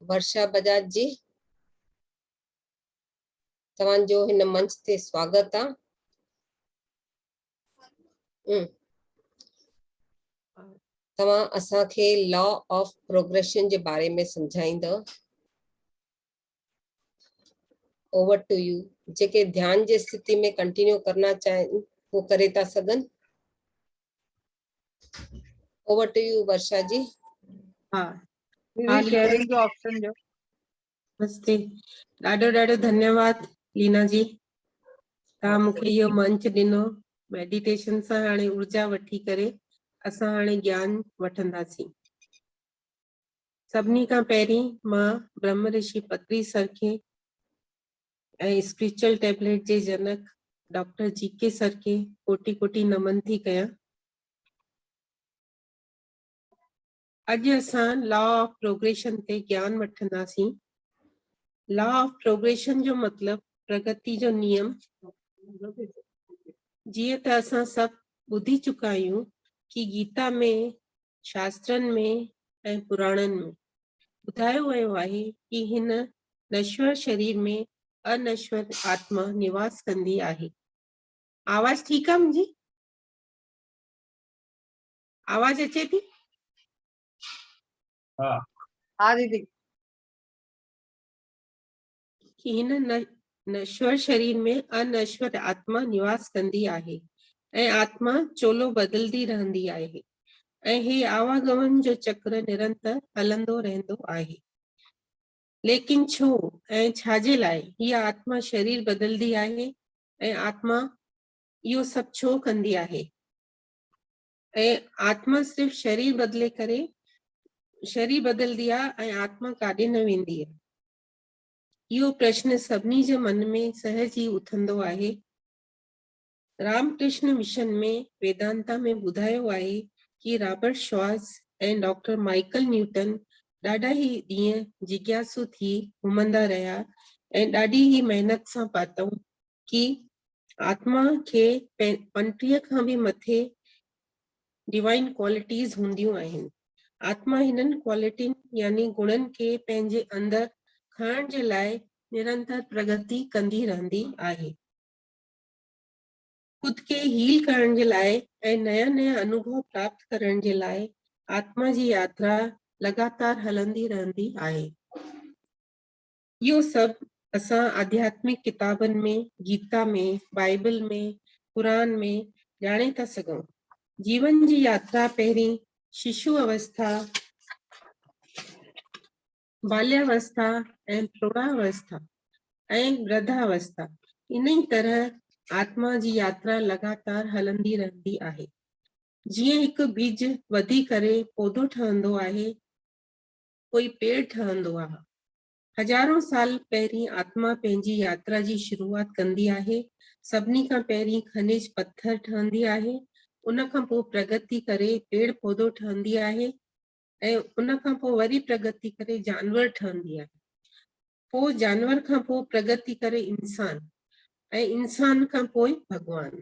ورشا بجاج جي توهان جو هن منچ تي سواگت آ توهان اسان کي لا آف پروگريشن جي باري ۾ سمجهائيندو اوور ٽو يو جيڪي ڌيان جي استھتي ۾ ڪنٽينيو ڪرنا چاھين ھو ڪري ٿا سگھن over to you Varsha ji ها ها شيئرنگ جو آپشن جو مستي ڏاڍو ڏاڍو ڌنيواد لينا جي تا مونکي اهو منچ ڏنو ميڊيٽيشن سان هاڻي ارجا وٺي ڪري اسان هاڻي گيان وٺنداسين سڀني کان پهرين مان برهم رشي پتري سر کي ۽ اسپريچل ٽيبليٽ جي جنڪ ڊاڪٽر جي ڪي سر کي ڪوٽي ڪوٽي نمن ٿي ڪيان. اڄ اسان لا آف پروگريشن تي گيان وٺنداسين. لا آف پروگريشن جو مطلب پرگتي جو نيم. جيئن ته اسان سڀ ٻڌي چڪا آهيون ڪي گيتا ۾ شاسترن ۾ ۽ پراڻن ۾ ٻڌايو ويو آهي ته هن نشور شرير ۾ انشور آتما نواس ڪندي آهي آواز ٺيڪ آ منهنجي آواز اچي ٿي ها ها ديدي هن نشور شرير ۾ انشور آتما نواس ڪندي آهي ۽ آتما چولو بدلندي رهندي آهي ۽ هي آواگمن جو چڪر نرنتر هلندو رهندو آهي ليڪن ڇو ۽ ڇا جي لاء هي آتما شرير بدلندي آهي ۽ آتما اهو سڀ ڇو ڪندي آهي ۽ آتما صرف شرير بدلي ڪري شرير بدلندي آهي ۽ آتما ڪاڏي نه ويندي آهي اهو پرشن سڀني جي من ۾ سهج ئي اٿندو آهي. رام ڪرشن مشن ۾ ويدانتا ۾ ٻڌايو آهي ڪي رابرٽ شواز ۽ ڊاڪٽر مائيڪل نيوٽن ڏاڍا ئي ڏينهن جگياسو ٿي گهمندا رهيا ۽ ڏاڍي ئي محنت سان پاتئون ڪي آتما کي پنٽيهه کان به مٿي Divine Qualities، هونديون آهن. آتما هنن ڪوالٽين يعني گڻن کي پنهنجي اندر کڻڻ جي لاء نرنتر پرڳتي ڪندي رهندي آهي. خود کي هيل ڪرڻ جي لاء ۽ نيا نيا انوڀو پراپت ڪرڻ جي لاء آتما جي ياترا لڳاتار هلندي رهندي آهي. اهو سڀ اسان آڌياتمڪ ڪتابن ۾، گيتا ۾، بائيبل ۾، قرآن ۾ ڄاڻي ٿا سگهون. جيون جي ياترا پهرين ششو اوسٿا، باليا اوسٿا ۽ پروڙا اوسٿا ۽ ورڌا اوسٿا انهي طرح آتما جي ياترا لڳاتار هلندي رهندي آهي. جيئن هڪ ٻج وڌي ڪري پودو ٺهندو آهي، ڪوئي پيڙ ٺهندو آ. هزارون سال پهرين آتما پنهنجي ياترا جي شروعات ڪندي آهي. سڀني کان پهرين کنج پٿر ٺهندي آهي، ان کان پوء پرگتي ڪري پيڙ پودو ٺهندي آهي ۽ ان کان پوء وري پرگتي ڪري جانور ٺهندي آهي. پوء جانور کان پوء پرگتي ڪري انسان ۽ انسان کان پوء ڀڳوان.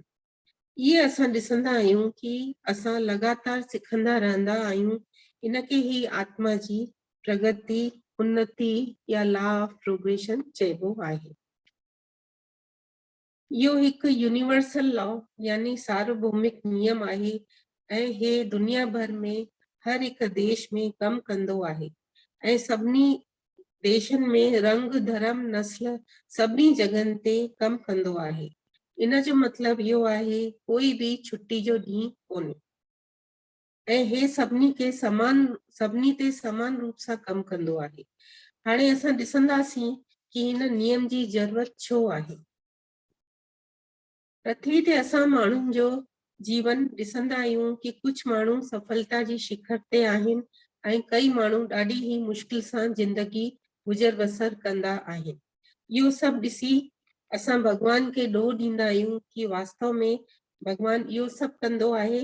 ايئن اسان ڏسندا آهيون ڪي اسان لڳاتار سکندا رهندا آهيون ان کي هي آتما جي پرگتي، انتي يا لا آف پروگريشن چئبو آهي. اهو هڪ يونيورسل لا يعني ساربومڪ نيم آهي ۽ هي دنيا ڀر ۾ هر هڪ ديش ۾ ڪم ڪندو آهي ۽ سڀني ديشن ۾ رنگ، ڌرم، نسل سڀني جڳهن تي ڪم ڪندو آهي. ان جو مطلب اهو آهي ڪوئي به ڇٽي جو ڏينهن ڪونهي. ۽ هي سڀني کي سمان سڀني تي سمان روپ سان ڪم ڪندو آهي. هاڻي اسان ڏسنداسين ڪي هن نيم جي ضرورت ڇو آهي. پرٿوي تي اسان ماڻهن جو جيون ڏسندا آهيون ڪي ڪجهه ماڻهو سڦلتا جي شکر تي آهن ۽ ڪئي ماڻهو ڏاڍي هي مشڪل سان زندگي گذر بسر ڪندا آهن. اهو سڀ ڏسي اسان ڀڳوان کي ڏوهه ڏيندا آهيون ڪي واستو ۾ ڀڳوان اهو سڀ ڪندو آهي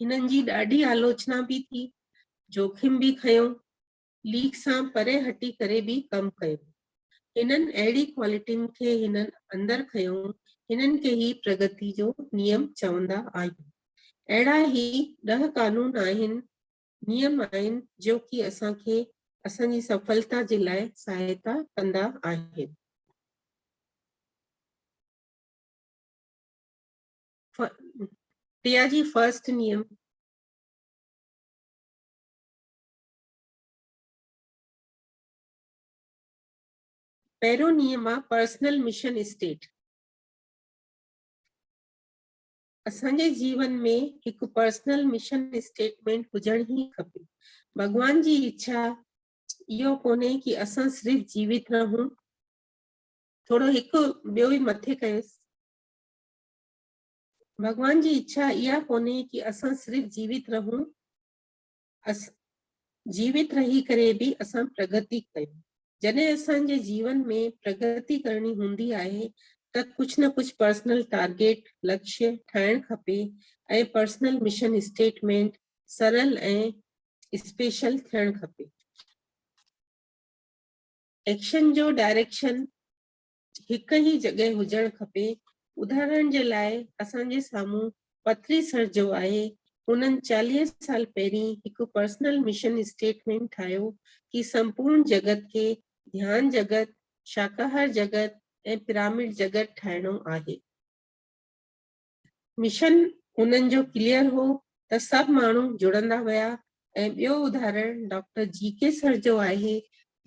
هنن جي ڏاڍي آلوچنا به ٿي، جوکم به کنيو، ليڪ سان پري هٽي ڪري به ڪم ڪيو. هنن اهڙي ڪوالٽين کي هنن اندر کنيو، هنن کي هي پرگتي جو نيم چوندا آهيون. اهڙا هي ڏهه قانون آهن، نيم آهن، جو ڪي اسان کي اسان جي سڦلتا جي لاء سهائتا ڪندا آهن. پيا جي فرسٽ نيم پهريون نيم آ پرسنل مشن اسٽيٽ اسان جي جيون ۾ هڪ پرسنل مشن اسٽيٽمنٽ هجڻ هي کپي ڀڳوان جي اڇا اهو ڪونهي ڪي اسان صرف جيوت رهون ٿورو هڪ ٻيو ئي مٿي ڪيس ڀڳوان جي اڇا اها ڪونهي ڪي اسان صرف جيوت رهون اس جيوت رهي ڪري به اسان پرگتي ڪيون جڏهن اسان جي جيون ۾ پرگتي ڪرڻي هوندي آهي ته ڪجهه نه ڪجهه پرسنل ٽارگيٽ لڪش ٺاهڻ کپي ۽ پرسنل مشن اسٽيٽمينٽ سرل ۽ اسپيشل ٿيڻ کپي ايڪشن جو ڊائريڪشن هڪ ئي جڳهه هجڻ کپي، اداهرڻ جي لاء اسان جي سامهون پٿري سر جو آهي، هنن چاليهه سال پهرين هڪ پرسنل مشن اسٽيٽمينٽ ٺاهيو ڪي سمپورن جڳت کي ڌيان جڳت، شاڪاهار جڳت ۽ پرامڊ جڳت ٺاهڻو آهي. مشن انهن جو ڪليئر هو ته سڀ ماڻهو جڙندا ويا ۽ ٻيو ادهارڻ ڊاڪٽر جي ڪي سر جو آهي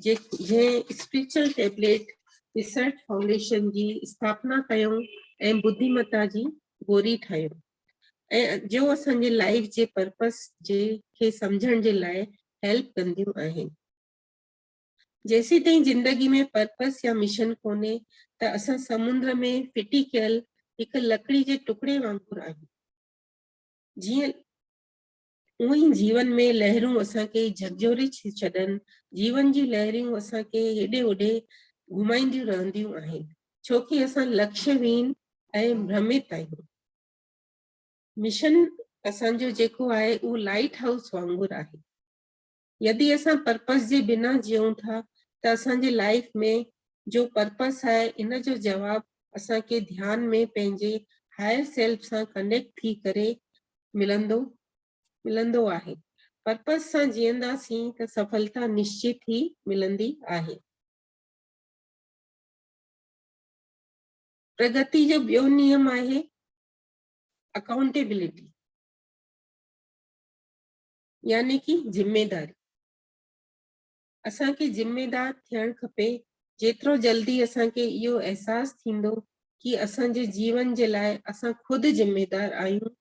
جنهن اسپريچل ٽيبليٽ ريسرچ فائونڊيشن جي اسٿاپنا ڪيو ۽ ٻڌي متا جي گوري ٺاهيو ۽ جو اسان جي لائف جي پرپس جي کي سمجهڻ جي لاء هيلپ ڪنديون آهن جيسيتائين زندگي ۾ پرپس يا مشن ڪونهي ته اسان سمنڊ ۾ ڦٽي ڪيل هڪ لڪڙي جي ٽڪڙي وانگر آهيون. جيئن اونء ئي جيون ۾ لهرون اسان کي جهڪجهوري ڇڏن، جيون جون لهريون اسان کي هيڏي هوڏي گهمائينديون رهنديون آهن، ڇوڪي اسان لڪشي وين ۽ ڀرميت آهيون. مشن اسان جو جيڪو آهي اهو لائيٽ هائوس وانگر آهي. يدي اسان پرپس جي بنا جيئون ٿا ته اسان جي لائيف ۾ جو پرپس آهي ان جو جواب اسان کي ڌيان ۾ پنهنجي هائر سيلف سان ڪنيڪٽ ٿي ڪري ملندو ملندو آهي پرپس سان جيئنداسين ته سڦلتا نشچت ٿي ملندي آهي پرگتي جو ٻيو نيم آهي اڪائونٽيبلٽي يعني ڪي ذميداري اسان کي ذميدار ٿيڻ کپي جيترو جلدي اسان کي اهو احساس ٿيندو ڪي اسان جي جيون جي لاء اسان خود ذميدار آهيون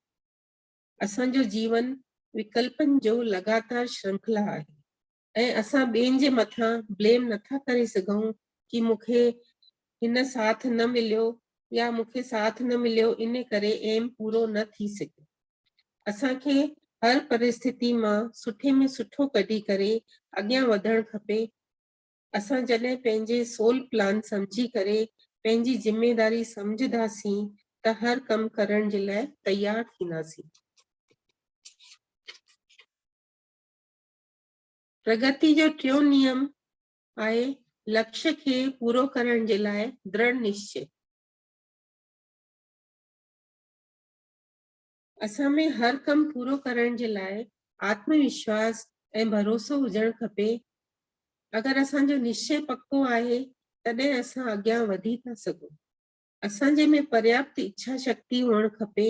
اسان جو جيون وڪلپن جو لڳاتار شرنکلا آهي ۽ اسان ٻين جي مٿان بليم نٿا ڪري سگهون ڪي مون کي هن ساٿ نه مليو يا مون کي ساٿ نه مليو ان ڪري ايم پورو نه ٿي سگهيو اسان کي هر پرستتي مان سٺي ۾ سٺو ڪڍي ڪري اڳيان وڌڻ کپي اسان جڏهن پنهنجي سول پلان سمجهي ڪري پنهنجي ذميداري سمجهداسين ته هر ڪم ڪرڻ جي لاء تيار ٿينداسين پرگتي جو ٽيون نيم آهي لڪش کي پورو ڪرڻ جي لاء درڙ نشچي. اسان ۾ هر ڪم پورو ڪرڻ جي لاء آتم وشواس ۽ ڀروسو هجڻ کپي. اگر اسان جو نشچي پڪو آهي تڏهن اسان اڳيان وڌي ٿا سگهون. اسان جي ۾ پرياپت اڇا شڪتي هئڻ کپي،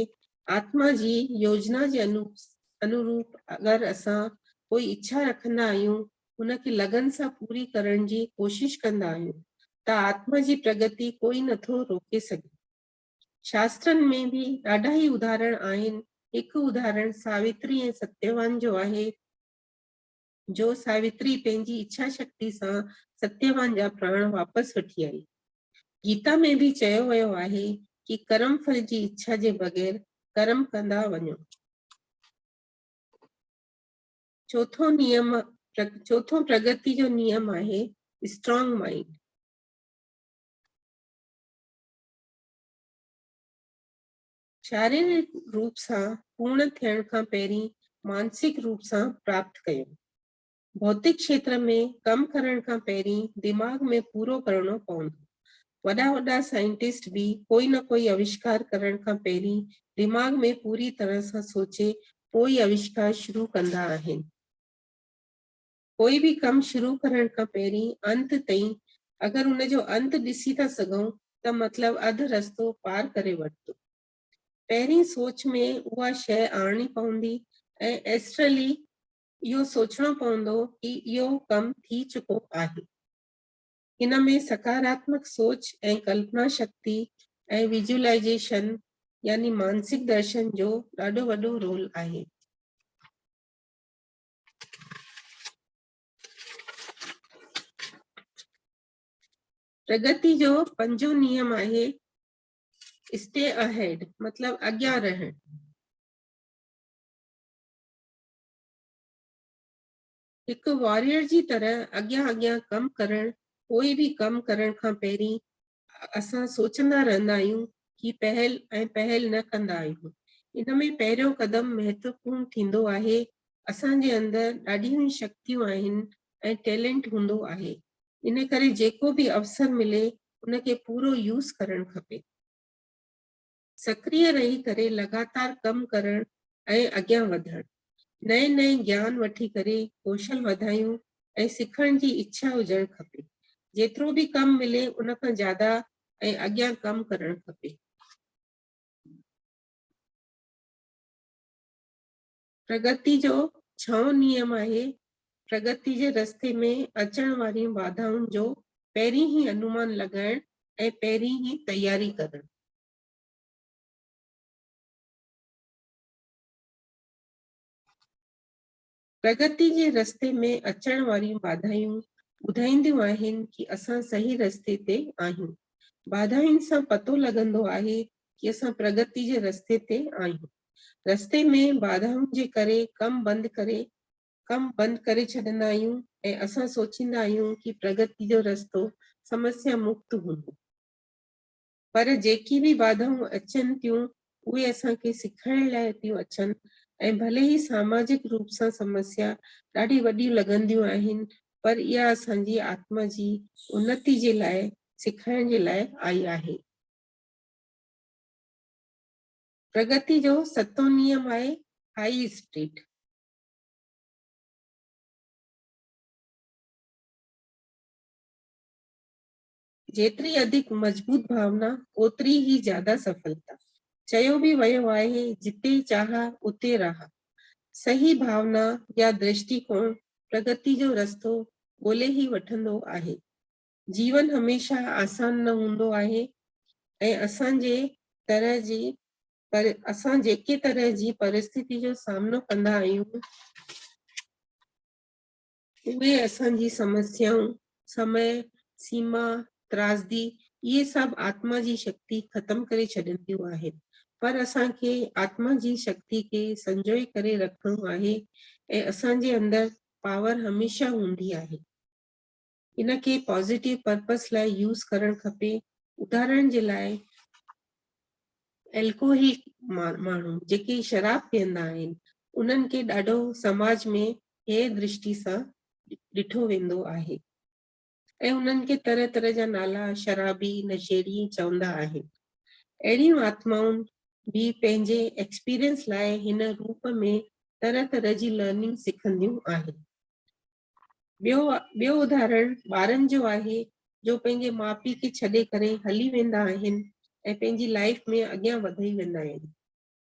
آتما جي يوجنا جي انوروپ اگر اسان ڪوئي اڇا رکندا آهيون، ان کي لگن سان پوري ڪرڻ جي ڪوشش ڪندا آهيون ته آتما جي پرگتي ڪوئي نه ٿو روڪي سگهي. شاسترن ۾ به ڏاڍا ئي اداهرڻ آهن، هڪ اداهرڻ ساوتري ۽ ستيوان جو آهي، جو ساوتري پنهنجي اڇا شڪتي سان ستيوان جا پراڻ واپس وٺي آئي. گيتا ۾ به چيو ويو آهي ڪي ڪرم ڦل جي اڇا جي بغير ڪرم ڪندا وڃو. چوٿون نيم چوٿون پرگتي جو نيم آهي اسٽرانگ مائنڊ. شاريرڪ روپ سان پورڻ ٿيڻ کان پهرين مانسڪ روپ سان پراپت ڪيون. ڀوتڪ کيتر ۾ ڪم ڪرڻ کان پهرين دماغ ۾ پورو ڪرڻو پوندو. وڏا وڏا سائنٽسٽ به ڪوئي نه ڪوئي آوشڪار ڪرڻ کان پهرين دماغ ۾ پوري طرح سان سوچي پوئي آوشڪار شروع ڪندا آهن. ڪوئي به ڪم شروع ڪرڻ کان پهرين انت تائين اگر ان جو انت ڏسي ٿا سگهون ته مطلب اڌ رستو پار ڪري ورتو. پهرين سوچ ۾ اها شيء آڻڻي پوندي ۽ ايسٽرلي اهو سوچڻو پوندو ڪي اهو ڪم ٿي چڪو آهي. ان ۾ سڪاراتمڪ سوچ ۽ ڪلپنا شڪتي ۽ ويجولائيزيشن يعني مانسڪ درشن جو ڏاڍو وڏو رول آهي. پرگتي جو پنجون نيم آهي اسٽي اهيڊ مطلب اڳيان رهڻ هڪ واريئر جي طرح اڳيان اڳيان ڪم ڪرڻ ڪوئي به ڪم ڪرڻ کان پهرين اسان سوچندا رهندا آهيون ڪي پهل ۽ پهل نه ڪندا آهيون ان ۾ پهريون قدم مهتوپورن ٿيندو آهي اسان جي اندر ڏاڍيون ئي شڪتيون آهن ۽ ٽيلنٽ هوندو آهي ان ڪري جيڪو به اوسر ملي ان کي پورو يوز ڪرڻ کپي. سڪريه رهي ڪري لڳاتار ڪم ڪرڻ ۽ اڳيان وڌڻ، نئين نئين گيان وٺي ڪري ڪوشل وڌايون ۽ سکڻ جي اڇا هجڻ کپي، جيترو به ڪم ملي ان کان زياده ۽ اڳيان ڪم ڪرڻ کپي. پرگتي جو ڇهون نيم آهي، پرگتي جي رستي ۾ اچڻ وارين باڌائن جو پهرين ئي انومان لڳائڻ ۽ پهرين ئي تياري ڪرڻ. پرگتي جي رستي ۾ اچڻ واريون باڌائيون ٻڌائينديون آهن ڪي اسان صحيح رستي تي آهيون. باڌائين سان پتو لڳندو آهي ڪي اسان پرگتي جي رستي تي آهيون رستي ۾ باڌائن جي ڪري ڪم بند ڪري ڪم بند ڪري ڇڏندا آهيون ۽ اسان سوچيندا آهيون ڪي پرگتي جو رستو سمسيا مڪت هوندو پر جيڪي به باڌائون اچن تيون اهي اسان کي سکائڻ لاء تيون اچن ۽ ڀلي ئي ساماجڪ روپ سان سمسيا ڏاڍي وڏيون لڳنديون آهن پر اها اسان جي آتما جي انتي جي لاء سکائڻ جي لاء آئي آهي پرگتي جو ستون نيم آهي هائي اسٽريٽ. جيتري اڌڪ مضبوط ڀاونا اوتري ئي زياده سڦلتا. چيو به ويو آهي جتي چاهه اتي راهه. صحيح ڀاونا يا درشٽيڪوڻ پرگتي جو رستو ڳولي ئي وٺندو آهي. جيون هميشه آسان نه هوندو آهي ۽ اسان جي طرح جي پر اسان جيڪي طرح جي پرستتي جو سامنو ڪندا آهيون اهي اسان جي سمسيائون سمي سيما ترازدي اهي سڀ آتما جي شڪتي ختم ڪري ڇڏنديون آهن پر اسان کي آتما جي شڪتي کي سنجوئي ڪري رکڻو آهي ۽ اسان جي اندر پاور هميشه هوندي آهي ان کي پازيٽو پرپس لاء يوز ڪرڻ کپي اداھرڻ جي لاء الڪوهل ماڻهو جيڪي شراب پيئندا آهن انهن کي ڏاڍو سماج ۾ هي درشٽي سان ڏٺو ويندو آهي ۽ انهن کي طرح طرح جا نالا شرابي نشيڙي چوندا آهن اهڙيون آتمائون به پنهنجي ايڪسپيرينس لاء هن روپ ۾ طرح طرح جي لرننگ سکنديون آهن ٻيو ٻيو اداھرڻ ٻارن جو آھي جو پنھنجي ماء پيء کي ڇڏي ڪري ھلي ويندا آھن ۽ پنھنجي لائيف ۾ اڳيان وڌي ويندا آھن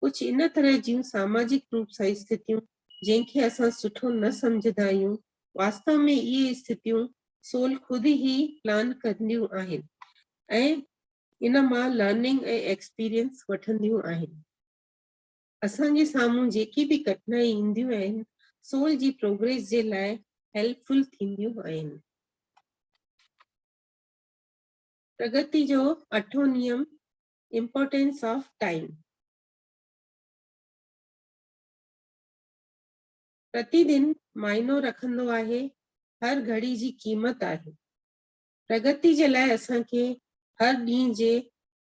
ڪجھ ان طرح جون ساماجڪ روپ سان استھتيون جنھن کي اسان سٺو نه سمجھدا آھيون واستو ۾ اھي استھتيون سول خود ئي پلان ڪنديون آھن ۽ ان مان لرننگ ۽ ايڪسپيرينس وٺنديون آھن. اسان جي سامهون جيڪي به ڪٺنائي اينديون آهن سول جي پروگريس جي لاء هيلپ فل ٿينديون آهن. پرگتي جو اٺون نيم امپورٽنس آف ٽائيم پرتي دن معنو رکندو آهي هر گهڙي جي قيمت آهي پرگتي جي لاء اسان کي هر ڏينهن جي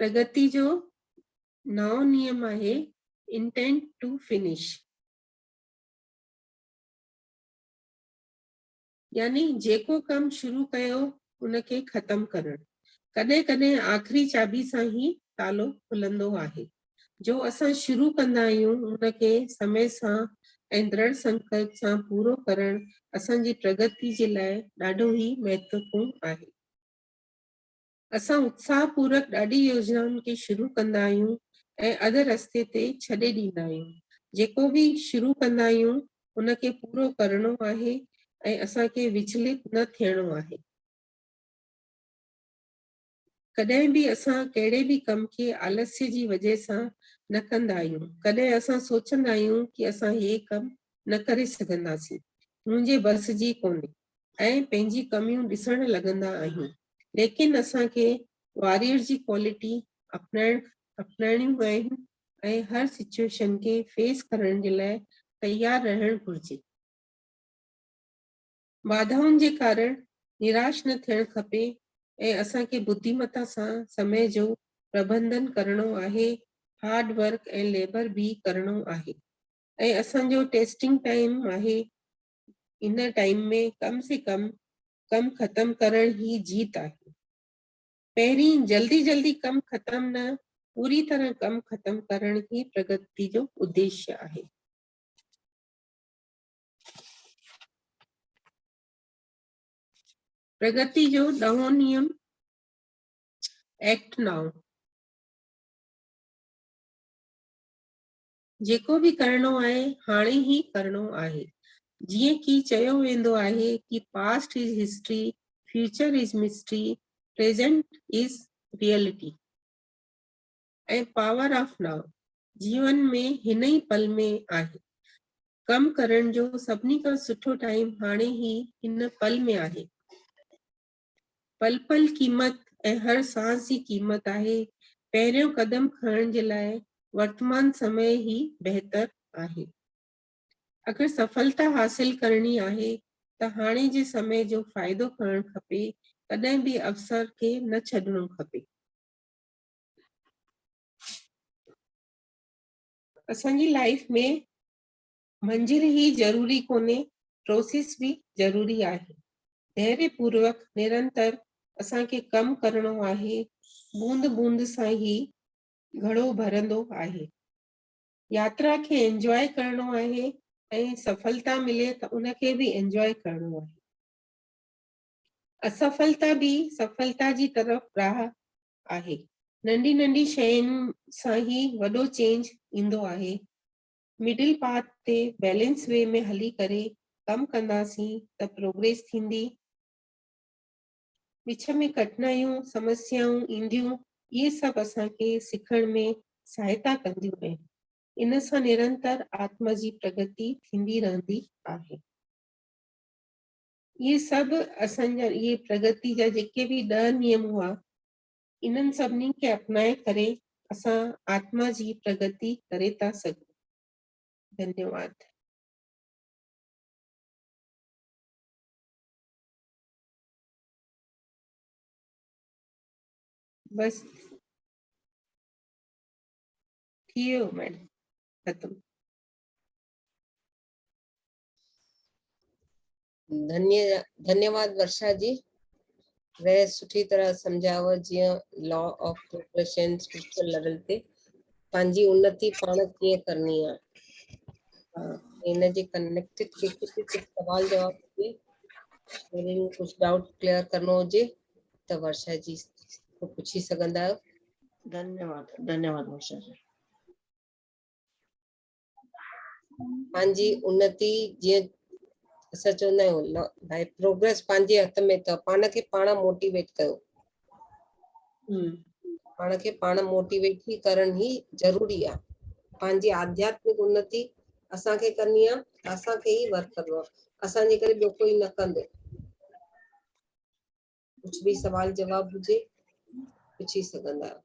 پرگتي جو نائون نيم آهي Intent to Finish. يعني جيڪو ڪم شروع ڪيو ان کي ختم ڪرڻ ڪڏهن ڪڏهن آخري چاٻي سان هي تالو کلندو آهي جو اسان شروع ڪندا آهيون ان کي سمي سان ۽ درڙ سنڪلپ سان پورو ڪرڻ اسان جي پرگتي جي لاء ڏاڍو هي مهتوپورن آهي اسان اتساهه پورڪ ڏاڍي يوجنائن کي شروع ڪندا آهيون ۽ اڌ رستي تي ڇڏي ڏيندا آهيون. جيڪو به شروع ڪندا آهيون ان کي پورو ڪرڻو آهي ۽ اسان کي وچلت نه ٿيڻو آهي. ڪڏهن به اسان ڪهڙي به ڪم کي آلسيء جي وجهه سان نه ڪندا آهيون. ڪڏهن اسان سوچندا آهيون ته اسان هي ڪم نه ڪري سگهنداسين، منهنجي بس جي ڪونهي. ۽ پنهنجي ڪميون ڏسڻ لڳندا آهيون ليڪن اسان کي واريئر جي ڪوالٽي اپنائڻ اپنائڻيون آهن ۽ هر سچوئيشن کي فيس ڪرڻ جي لاء تيار رهڻ گهرجي. باڌائن جي ڪارڻ نراش نه ٿيڻ کپي ۽ اسان کي بديمتا سان سمي جو پربنڌن ڪرڻو آهي، هارڊ ورڪ ۽ ليبر به ڪرڻو آهي ۽ اسان جو ٽيسٽنگ ٽائيم آهي ان ٽائيم ۾ ڪم سي ڪم ڪم ختم ڪرڻ هي جيت آهي پهرين جلدي جلدي ڪم ختم نه پوري طرح ڪم ختم ڪرڻ هي پرگتي جو اديش آهي پرگتي جو ڏهون نيم ايڪٽ ناو جيڪو به ڪرڻو آهي هاڻي ئي ڪرڻو آهي جيئن ڪي چيو ويندو آهي ڪي past is history future is mystery present is reality ۽ power of now جيون ۾ هن ئي پل ۾ آهي ڪم ڪرڻ جو سڀني کان سٺو ٽائيم هاڻي ئي هن پل ۾ آهي پل پل قيمت ۽ هر سانس جي قيمت آهي، پهريون قدم کڻڻ جي لاء ورتمان سمي ئي بهتر آهي. اگر سڦلتا حاصل ڪرڻي آهي ته هاڻي جي سمي جو فائدو کڻڻ کپي، ڪڏهن به اوسر کي نه ڇڏڻو کپي. اسان جي لائيف ۾ منزل ئي ضروري ڪونهي، پروسيس به ضروري آهي. ڌيري پوروڪ، نرنتر اسان کي ڪم ڪرڻو آهي، بوند بوند سان هي گهڙو ڀرندو آهي. ياترا کي انجواء ڪرڻو آهي ۽ سڦلتا ملي ته ان کي به انجواء ڪرڻو آهي. اسڦلتا به سڦلتا جي طرف راهه آهي. ننڍي ننڍي شين سان هي وڏو چينج ايندو آهي. مڊل پاٿ تي بيلنس وي ۾ هلي ڪري ڪم ڪنداسين ته پروگريس ٿيندي. وچ ۾ ڪٺنايون، سمسيائون اينديون، اهي سڀ اسان کي سکڻ ۾ سهائتا ڪنديون ۽ ان سان نرنتر آتما جي پرگتي ٿيندي رهندي آهي. اهي سڀ اسان جا اهي پرگتي جا جيڪي به ڏهه نيم هئا، انهن سڀني کي اپنائي ڪري اسان آتما جي پرگتي ڪري ٿا سگهون. ڌنيواد. بس ٿي ويو ميڊم ختم ڌني ڌنيواد ورشا جي وي سٺي طرح سمجھاو جيئن law of progression spiritual level تي پنهنجي انتي پاڻ ڪيئن ڪرني آ ان جي ڪنيڪٽيڊ کي ڪجهه ڪجهه سوال جواب ڏي وري ڪجهه ڊائوٽ ڪليئر ڪرڻو هجي ته ورشا جي پڇي سگهندا آهيو ڌنيواد ڌنيواد ورشا جي پنهنجي انتي جيئن اسان چوندا آهيون ڀاء پروگريس پنهنجي هٿ ۾ اٿو پاڻ کي پاڻ موٽيويٽ ڪيو پاڻ کي پاڻ موٽيويٽ ٿي ڪرڻ هي ضروري آ پنهنجي آڌياتمڪ انتي اسان کي ڪرڻي آ اسان کي هي ورڪ ڪرڻو آ اسان جي ڪري ٻيو ڪوئي نه ڪندو ڪجھ به سوال جواب هجي پڇي سگهندا آهيو